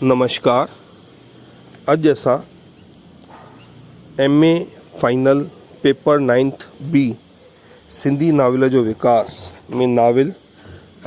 نمشڪار اڄ اسان M A final paper ninth B Sindhi novel جو وڪاس ۾ ناول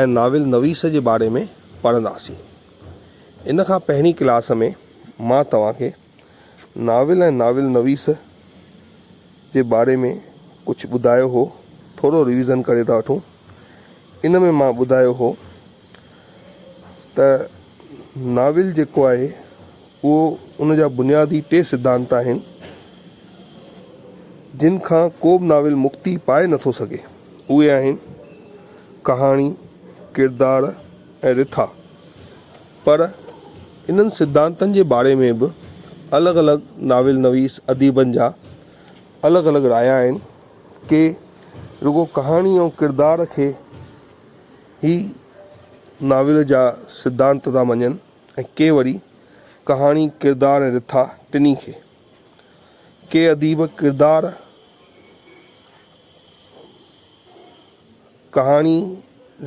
۽ ناول نويس جي باري ۾ پڙهنداسين ان کان پهرين ڪلاس ۾ مان توهان کي ناول ۽ ناول نويس جي باري ۾ ڪجهه ٻڌايو هو ٿورو ريويزن ڪري ٿا وٺون ان ۾ مان ٻڌايو هو ته ناول جيڪو آهي اهو ان جا بنيادي ٽي سڌانت آهن جن کان ڪو به ناول مڪتي پائي نٿو سگهي اهي آهن ڪهاڻي ڪردار ۽ رٿا پر انهن سڌانتن جي باري ۾ به الڳ الڳ ناول نويس اديبن جا الڳ الڳ رايا آهن. ڪي رڳو ڪهاڻي ۽ ڪردار کي ئي ناول جا سڌانت ٿا مڃن ۽ ڪي وري ڪهاڻي، ڪردار ۽ رٿا ٽنهي کي. ڪي اديب ڪردار. ڪهاڻي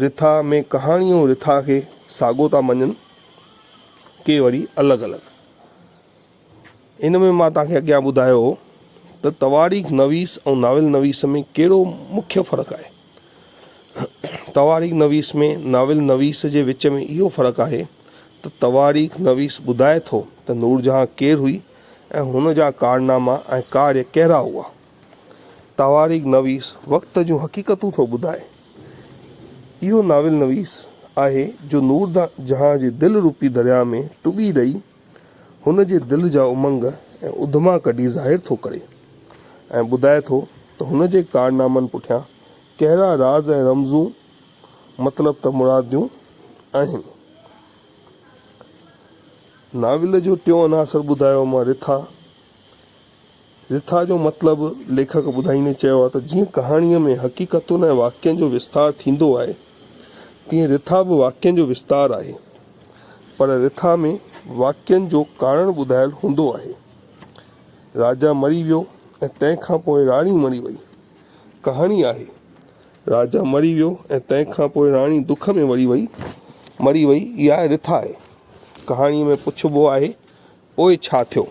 رٿا ۾ ڪهاڻي ۽ رٿا کي ساڳو ٿا مڃن، ڪي وري الڳ الڳ. ان ۾ مان توهان کي اڳيان ٻڌايو هو ته تواريخ نويس ۽ ناول نويس ۾ ڪهڙو مکيه فرق آهي. تواريخ نويس ۾ ناول نويس جي وچ ۾ اهو فرق آهي ته تواريخ نويس ٻڌائي ٿو ته نورجهان ڪير هئي ۽ هن جا ڪارناما ۽ ڪاريه ڪهڙا هئا. تواريخ نويس وقت جون حقيقتون ٿو ٻڌائي. اهو ناول نويس آهي جو نور جهان جي دل روپي درياء ۾ ٽٻي ڏئي هن جي دل جا امنگ ۽ اڌما ڪڍي ظاهر ٿو ڪري ۽ ٻڌائي ٿو ته هن جي ڪارنامن پٺيان ڪهڙا راز ۽ رمزون مطلب ته مراديون آهن. ناول جو ٽيون عناصر ٻڌايو مان رٿا. رٿا جو مطلب ليکڪ ٻڌائيندي چيو آهي ته جيئن ڪهاڻيء ۾ حقيقتن ۽ واقعن جو وستار ٿيندو آهي، تيئن رٿا به واقعن جو وستار آهي، پر رٿا ۾ واقعن جو ڪارڻ ٻڌايل هوندو آهي. راجا مري ويو ۽ تنهن کان پوء راڻي مري وئي. ڪهاڻي آهي، راجا مري ويو ۽ تنهن کان پوء راڻي دک ۾ مري وئي. مري وئي، اها رٿا آهي. ڪهاڻيء ۾ پڇبو آهي پوء ڇا ٿيو؟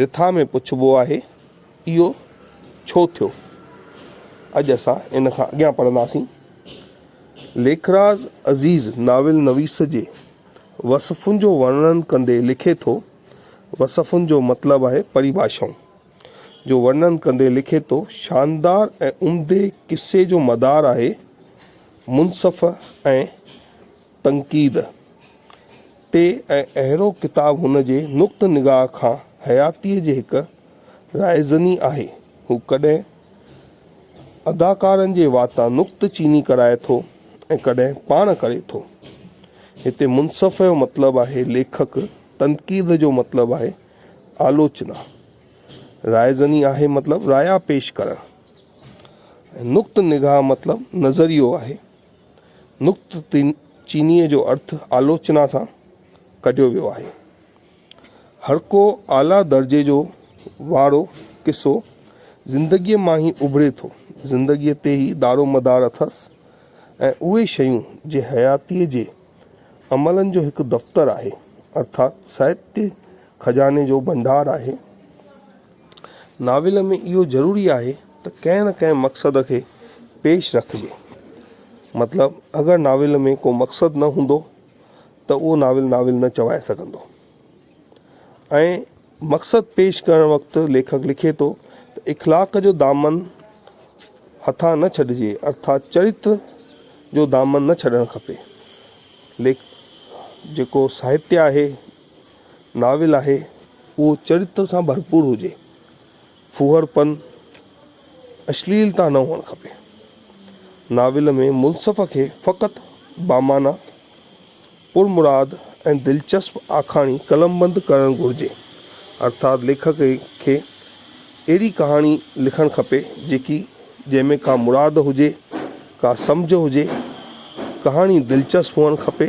رٿا ۾ پڇبو آهي، اهو ڇو ٿيو؟ اڄ اسان ان کان اڳيان پڙهنداسين. ليکراز عزيز ناول نويس جي وصفن جو ورڻن ڪندي لکي ٿو، وصفن جو مطلب آهي پريڀاشائون، جو ورڻن ڪندي لکي ٿو، شاندار ۽ عمدي قصي جو مدار آهي منصف ۽ تنقيد تي ۽ اهڙو ڪتاب هن جي نقطه نگاهه کان حياتيء جي هڪ رائزني آهي. هو ڪڏهن اداڪارن جي واتان نقطه چيني ڪرائي ٿو ۽ ڪڏهن پاڻ ڪري ٿو. هتي منصف جو مطلب آهي ليکڪ، تنقيد جو مطلب آهي آلوچنا، رائزني آهي مطلب رايا پيش ڪرڻ ۽ نقطه نگاهه مطلب نظريو آهي. نڪتن چينيء جو ارٿ آلوچنا سان ڪڍيو ويو آهي. هرڪو اعليٰ درجي جو واڙو قصو زندگيء مان ئي اڀري ٿو. زندگيء تي ئي دارومدار اٿس ۽ اهي شيون جي حياتيء جي عملن جو هڪ دفتر آهي، ارٿات ساهتيه خزاني جو ڀنڊار آهي. ناول ۾ اهو ضروري آهي ته ڪنهن نه ڪنهن مقصد کي پيش رکجي. مطلب اگر ناول ۾ ڪو مقصد نه هوندو ته اهو ناول ناول نه چوائي سگهندو. ۽ مقصد پيش ڪرڻ وقت ليکڪ لکي ٿو ته اخلاق جو دامن هٿان نه ڇڏجي ارٿات چريتر جو دامن نه ڇڏڻ کپي. ليک جيڪو ساهتيه آهي. ناول آهي اهو چريتر سان ڀرپور هجي، ڦوهر پن، اشليلتا نه هئڻ کپي. ناول ۾ منصف کي فقط بامعنيٰ، پرمراد ۽ دلچسپ آکاڻي قلمبند ڪرڻ گهرجي. ارٿات ليکڪ کي اهڙي ڪهاڻي لکڻ کپي جيڪي جنهن ۾ ڪا مراد هجي، ڪا سمجهه هجي، ڪهاڻي دلچسپ هئڻ کپي.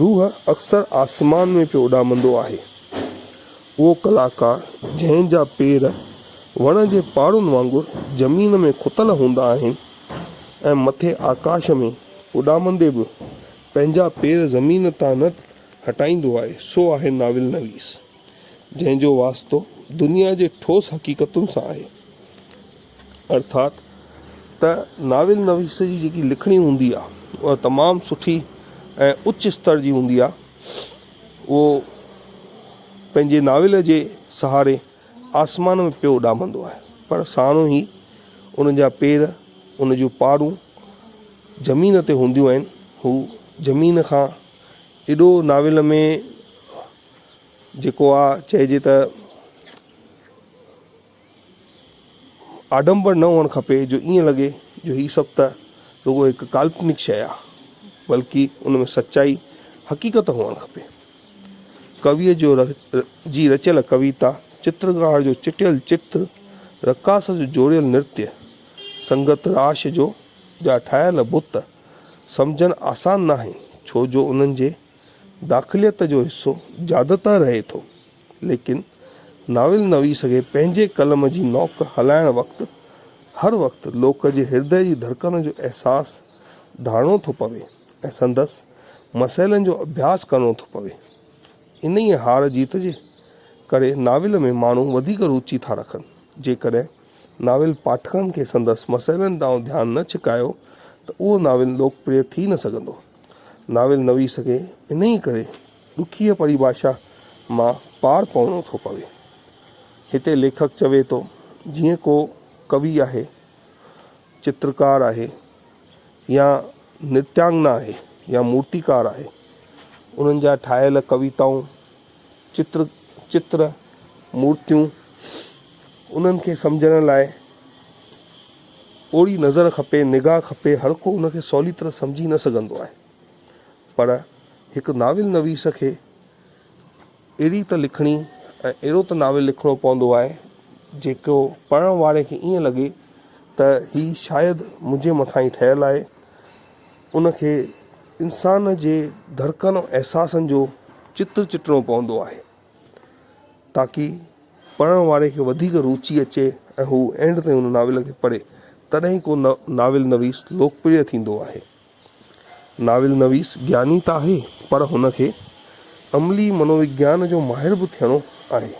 روح اڪثر آسمان ۾ پيو اڏامندو آهي. اهو ڪلاڪار جنهن جا پير وڻ جي پاڙن وانگر زمين ۾ کتل هوندا آهن ۽ مٿي آڪاش ۾ اڏامندي به پنهنجا پير زمين تان نه هٽائيندو آهي سو آهي ناول نويس جنهن جو واسطو دنيا جي ٺوس حقيقتن سان آهي. ارٿات ته ناول نويس جي جيڪي لکڻي هوندي آ اها تمام سٺي ۽ اچ استر جي هوندي آ اهو پنهنجي ناول جي سهاري آسمان ۾ پيو اڏامندو آهي پر ساڻو هي ان جا پير ان جون پارون زمين تي هونديون آهن هو زمين کان ايڏو ناول ۾ جيڪو آ چئجي ته آڏمبر نه هئڻ کپي جو ائين لڳي جو هي سڀ ته رڳو هڪ ڪالپنڪ شيء آ، بلڪ ان ۾ سچائي، حقيقت هئڻ کپي. ڪويء جو جي رچيل ڪويتا، چترڪار جو چٽيل چتر، رقاص جو جوڙيل نرتي، سنگت راش جو جا ٺاهيل بت، سمجهڻ آسان ناهي، ڇو جو انهن جي داخليت جو حصو زيادتر رهي ٿو. ليڪن ناول نويس کي پنهنجي قلم جي نوڪ هلائڻ وقت هر وقت لوڪ جي هردئه جي ڌڙڪن جو احساس ڌاڻو ٿو پوي ۽ سندس مسئلن جو اڀياس ڪرڻو ٿو پوي. انهيء هار جيت جي ڪري ناول ۾ ماڻهو وڌيڪ روچي ٿا رکن. جيڪڏهن ناول پاٺڪن کي سندس مسئلن ڏانهن ڌيان نه ڇڪايو ته اهو ناول لوڪپريه ٿي نه سگهندو. ناول نويس کي انهيء ڪري. ڏکيء پريڀاشا مان پار پوڻو ٿو پوي. هتي ليکڪ چوي ٿو جيئن ڪو ڪوي آهي، چترڪار آهي يا نرتيانگنا آهي يا مورتيڪار آهي، انهن جا ٺاهيل ڪويتائون، چتر، چتر، مورتيون، انهن کي سمجهڻ لاء اوڙي نظر کپي، نگاهه کپي، هر ڪو ان کي سولي طرح سمجهي نه سگهندو آهي. پر هڪ ناول نويس کي اهڙي ته لکڻي ۽ اهڙو ته ناول لکڻو پوندو آهي جيڪو پڙهڻ واري کي ائين لڳي ته هي شايد منهنجي مٿان ئي ٺهيل آهي ان کي انسان جي ڌڙڪن ۽ احساسن جو چتر چٽڻو پوندو آهي تاڪي پڙهڻ واري کي وڌيڪ روچي اچي ۽ هو اينڊ تائين ان ناول کي پڙهي تڏهن ئي ڪو ناول نويس لوڪپريه ٿيندو آهي ناول نويس گياني ته آهي پر هن کي عملي منووگيان جو ماهر به ٿيڻو آهي.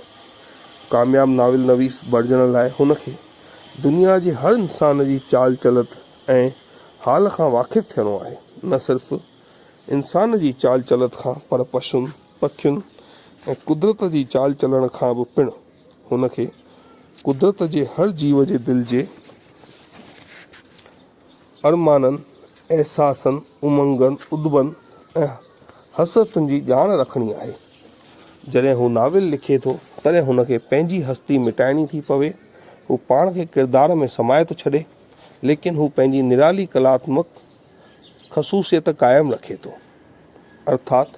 ڪامياب ناول نويس بڻجڻ لاء هن کي دنيا جي هر انسان جي چال چلت ۽ حال کان واقف ٿيڻو آهي، نه صرف انسان جي چال چلت کان پر پشن، پکين ۽ قدرت جي چال چلڻ کان به پڻ. هن کي قدرت جي هر جيو جي دل جي. ارمانن، احساسن، امنگن، ادبن ۽ حسرتن جي ڄاڻ رکڻي آهي. جڏهن هو ناول لکي ٿو، تڏهن هن کي پنهنجي هستي مٽائڻي ٿي پوي، هو پاڻ کي ڪردار ۾ سمائي ٿو ڇڏي، ليڪن هو پنهنجي نرالي ڪلاتمڪ خصوصيت قائم رکي ٿو. ارٿات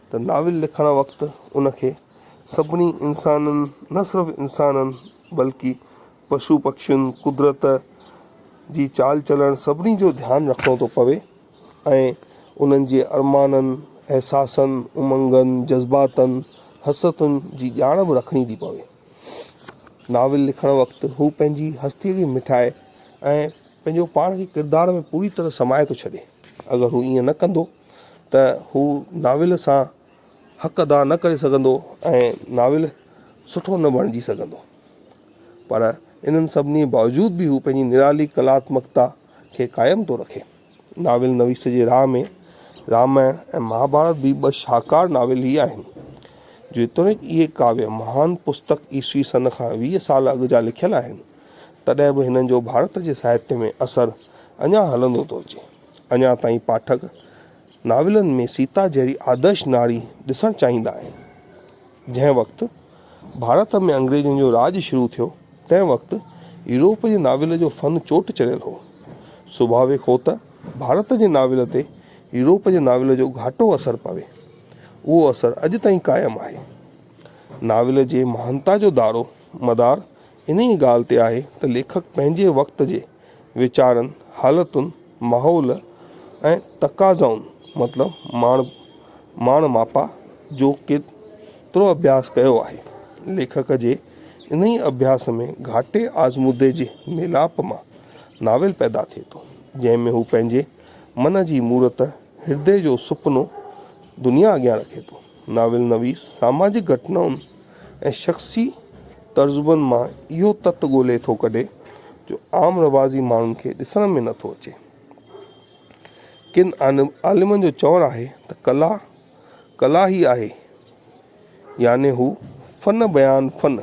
ته ناول لکڻ وقت ان کي سڀني انسانن نه صرف انسانن بلڪه پشو پکين، قدرت جي چال چلڻ سڀني جو ڌيان رکڻو ٿو پوي ۽ انهن جي ارمانن، احساسن، امنگن، جذباتن، حسرتن جي ڄاڻ به رکڻي ٿي پوي. ناول لکڻ وقت هو پنهنجي هستيء جي مٺائي ۽ پنهنجو پاڻ کي ڪردار ۾ پوري طرح سمائي ٿو ڇڏي. اگر هو ائين نه ڪندو ته هو ناول سان حق ادا نه ڪري سگهندو ۽ ناول سٺو نه بڻجي سگهندو پر انهن سڀني باوجود به هو پنهنجي نرالي ڪلااتمڪتا کي قائم ٿو رکي. ناول نويس جي راهه ۾ رامائڻ ۽ مهاڀارت به ٻه شاهڪار ناول ئي آهن. جيتوڻيڪ اهي ڪاويه مهان پستڪ عيسوي سن کان ويهه سال اڳ جا لکيل آهن تڏهن به هنن جو ڀارت جي ساهتيه ۾ اثر اڃا هلندو ٿو اچي. اڃا تائين پاٺڪ ناولن ۾ سيتا جهڙي آدرش ناري ڏسڻ چاهيندا آهن. جنهن وقت ڀارت ۾ انگريزن جو راڄ شروع ٿيو تنهن وقت يورپ جي ناول جو فن چوٽ چڙهيل هو. سڀاويڪ هو ته ڀارت جي ناول تي يورپ جي ناول جو گهاٽو اثر پوي. اهو اثر اڄ تائين قائم آهي. ناول جي مهانتا جو دارو مدار انهيء ڳالهه تي آهي ته ليکڪ پنهنجي وقت جي ويچارن، حالتن، ماحول ۽ تقاضائن مطلب ماڻ ماڻ ماپا جو ڪيترو اڀياس ڪيو آهي. ليکڪ جي انهيء اڀياس ۾ گهاٽي آزمودي جي ميلاپ مان ناول پيدا ٿئي ٿو، جنهن ۾ هو پنهنجي من جي مورت، هردي جو سپنو دنيا اڳيان رکي ٿو. ناول نويس ساماجڪ گهٽنائن ۽ شخصي تجربن مان اهو تت ڳولهي ٿو ڪڍي جو عام رواجي ماڻهن کي ڏسڻ ۾ نه ٿو اچي. ڪن عالمن جو چوڻ آهي ته ڪلا ڪلا ئي آهي يعني هو فن بيان فن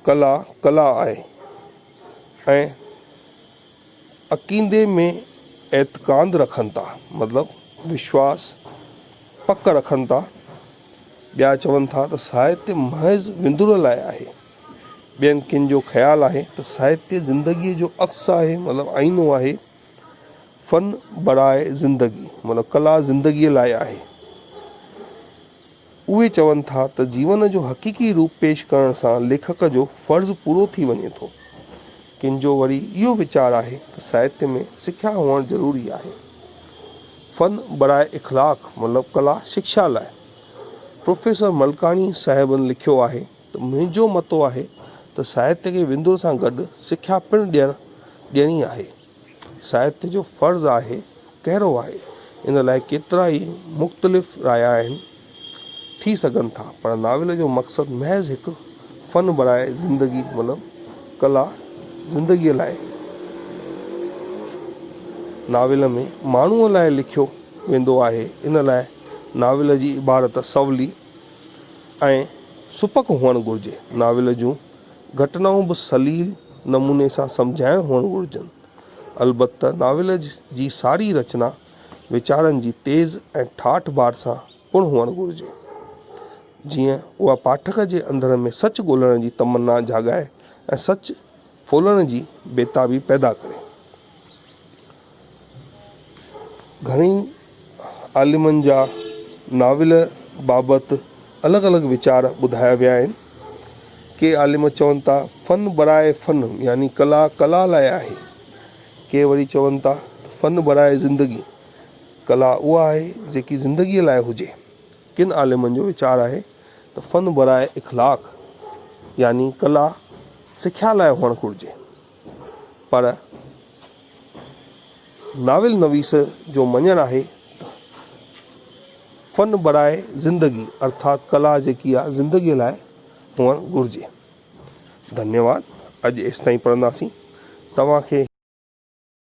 ڪلا ڪلا آهي ۽ عقيدي ۾ اعتقاد رکن ٿا مطلب وشواس، پڪ، رکن ٿا. ٻيا چون ٿا ته ساهتيه محض وندرن لاء آهي. ٻين ڪن جو خيال آهي ته ساهتيه زندگيء جو عڪس آهي مطلب آئينو آهي. فن برائي زندگي مطلب ڪلا زندگيء لاء آهي. اهي چون ٿا ته جيون جو حقيقي روپ پيش ڪرڻ سان ليکڪ جو فرض پورو ٿي وڃي ٿو. ڪن جو وري اهو ويچار آهي ته ساهتيه ۾ سکيا هئڻ ضروري آهي. فن براء اخلاق مطلب ڪلا شڪشا لاء. پروفيسر ملڪاڻي صاحبن لکيو آهي ته منهنجو متو آهي ته ساهتيه کي وندر سان گڏ سکيا پڻ ڏيڻ ڏيڻي آهي. ساهتيه جو فرض آهي ڪهڙو آهي ان لاء ڪيترا ئي مختلف رايا آهن ٿي سگهن ٿا پر ناول جو مقصد محض هڪ فن بڻائي زندگي مطلب ڪلا زندگي لاء ناول ۾ ماڻهو لاء لکيو ويندو آهي ان لاء ناول جي عبارت سولي ۽ سپڪ هئڻ گهرجي ناول جون گهٽنائون به سليل نموني سان سمجهايل هئڻ گهرجن. البته ناول جي ساري رچنا ويچارن جي تيز ۽ ٺاٺ بار سان پڻ هئڻ گهرجي. جيئن اها پاٺڪ جي اندر ۾ سچ ڳولهڻ جي تمنا جاڳائي ۽ سچ ڦولهڻ جي بيتابي پيدا ڪري. گهڻي عالمن جا ناول بابت الڳ الڳ ويچار ٻڌايا ويا آهن. ڪي عالم چون ٿا فن برائي فن يعني ڪلا ڪلا لاء آهي. ڪي وري چون ٿا ته فن برائي زندگي، ڪلا اها آهي جيڪي زندگيء لاء هجي. ڪن عالمن جو ويچار آهي ته فن برائي اخلاق يعني ڪلا سکيا لاء هئڻ گهرجي. پر ناول نويس جو مڃڻ آهي ته فن برائي زندگي ارٿات ڪلا جيڪي آهي زندگي لاء هئڻ گهرجي. ڌنيواد اڄ ايستائين پڙهنداسين توهان کي.